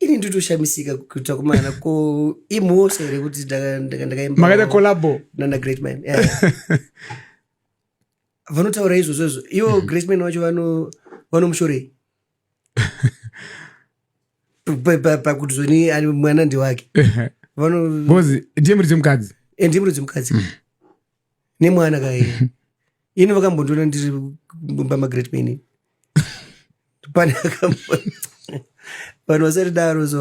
ini nditoshamisika kuita kumana ko imhosva here kuti ndakaimakaita collabo nana great man vanotaura izvozvo izvo ivo mm-hmm. great man wacho vanomushorei pakuti zvoni ari mwana ndewake vanozi ndimuri dzemukadzi eh, ndimuri dzemukadzi mm. nemwana kaye ini vakambondiona ndiri mumba magreat paini pane akambo vanhu vasati daro so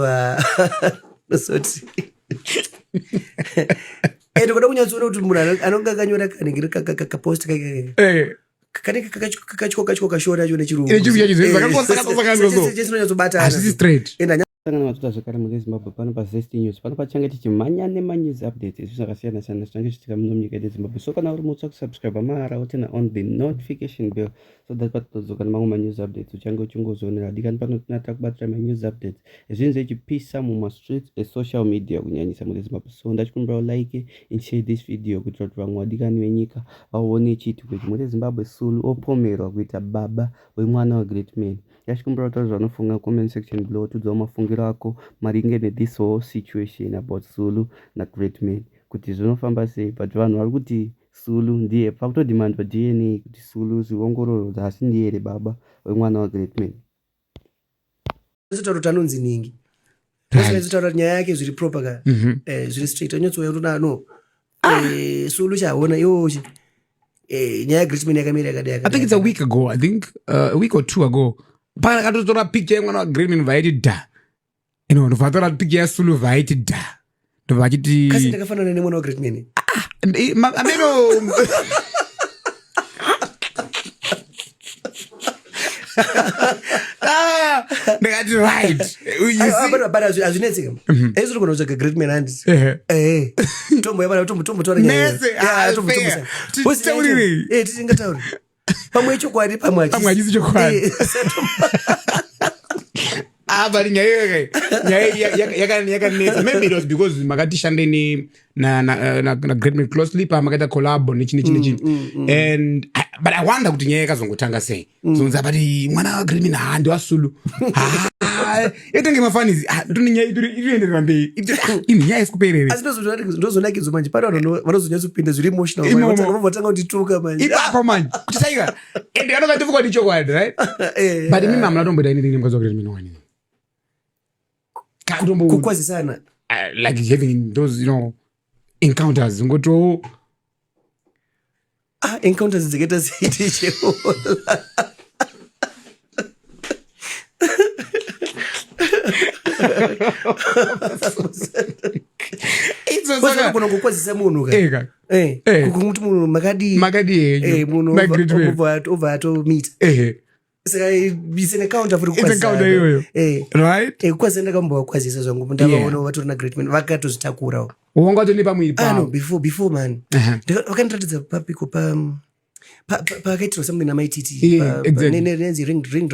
nosoti ende kuda kunyatsoona kuti munhu anonga akanyora kanenge kakapost kake eh. kanenge kakatyoka kashori acho nechirunguakanyatsobataasisangana matuta zvekare mune zimbabwe pano pazest news pano pachange tichimhanya nemanews updates izvi zvakasiyana siyana zvinange zvichitika muno munyika yedu zimbabwe so kana uri mutsva kusubscribe mahara wotena on the notification bell so that patinodzoka nemamwe manews updates uchange uchingozvionera dikani pano tinatakubatira manews updates zvinhu zvechipisa mumastreets esocial media kunyanyisa mune zimbabwe so ndachikumbirawo like and share this video kuitira kuti vamwe vadikani venyika vaone chiitiko ichi mune zimbabwe sulu opomerwa kuita baba wemwana wegreat man ndachikumbirawo taura zvanofunga comment section below tiudzawo mafungiro ako maringe nethis whole situation about sulu nagreat man kuti zvinofamba sei but vanhu vari kuti sulu ndiye pakutodimandwa dna kuti sulu zviongororo dzasi ndiye here baba wemwana wegreat man Zitauro tanonzi nhingi. Right. Zitauro nyaya yake zviri proper ka. Mm -hmm. Eh zviri straight. Anyotsoya kuti no. Ah. Eh sulu chaona yo. Eh nyaya Griezmann yakamira yakadai yakadai. I think it's a week ago. I think uh, a week or two ago. Pana katotora picture yemwana wa Griezmann vaiti da. ino ndobva atora piki yasulu vaiti dha ndobva achiti kasi ndakafanana nemwana wagreat nene ah, eh, ameno Ah, ndakati right azvinetseka esi togona kutsvaga great man handi tombo yabana tombo tombo torausingatauri pamwe ichokwadi pamwe pamwe hachisi chokwadi Eh, ah but nyaya iyoyo nyaya iyi yaka- yaka- yakanetsa maybe it was because makatishande ne na na eh, na, na great man closely pa makaita collabo nechi nechi nechi and I, but i wonder kuti nyaya yakazongotanga sei zonzi abati mwana wa great man ha ndiwasulu ha yatenge mafanizi ah, tune nyaya itoenderera mberi ini nyaya isikuperere asi ndozonakidzwa manje pane vanhu vanozonyatso kupinda zviri emotionalvatanga kutituka manje ipapo manje kutitaira and anonga tifuka kuti chokwadi right eh, eh, but mimi eh. hamuna tomboita anything nemukadzi wakuti mino wani kukwazisana ah, like having those you know encounters ngotiwo ah, encounter dzakaita seiticheola kona kukwazisa munhu kaeka eh, eh. kuti munhu makadii makadii eh, munhu obva atomita ndakambavakwazisa zvangu ndavaona vatori na great man vakatozvitakurawo wanga watone pamwiri pano ah, before before man vakandiratidza papiko pa pakaitirwa something namaititi nenzi ring ring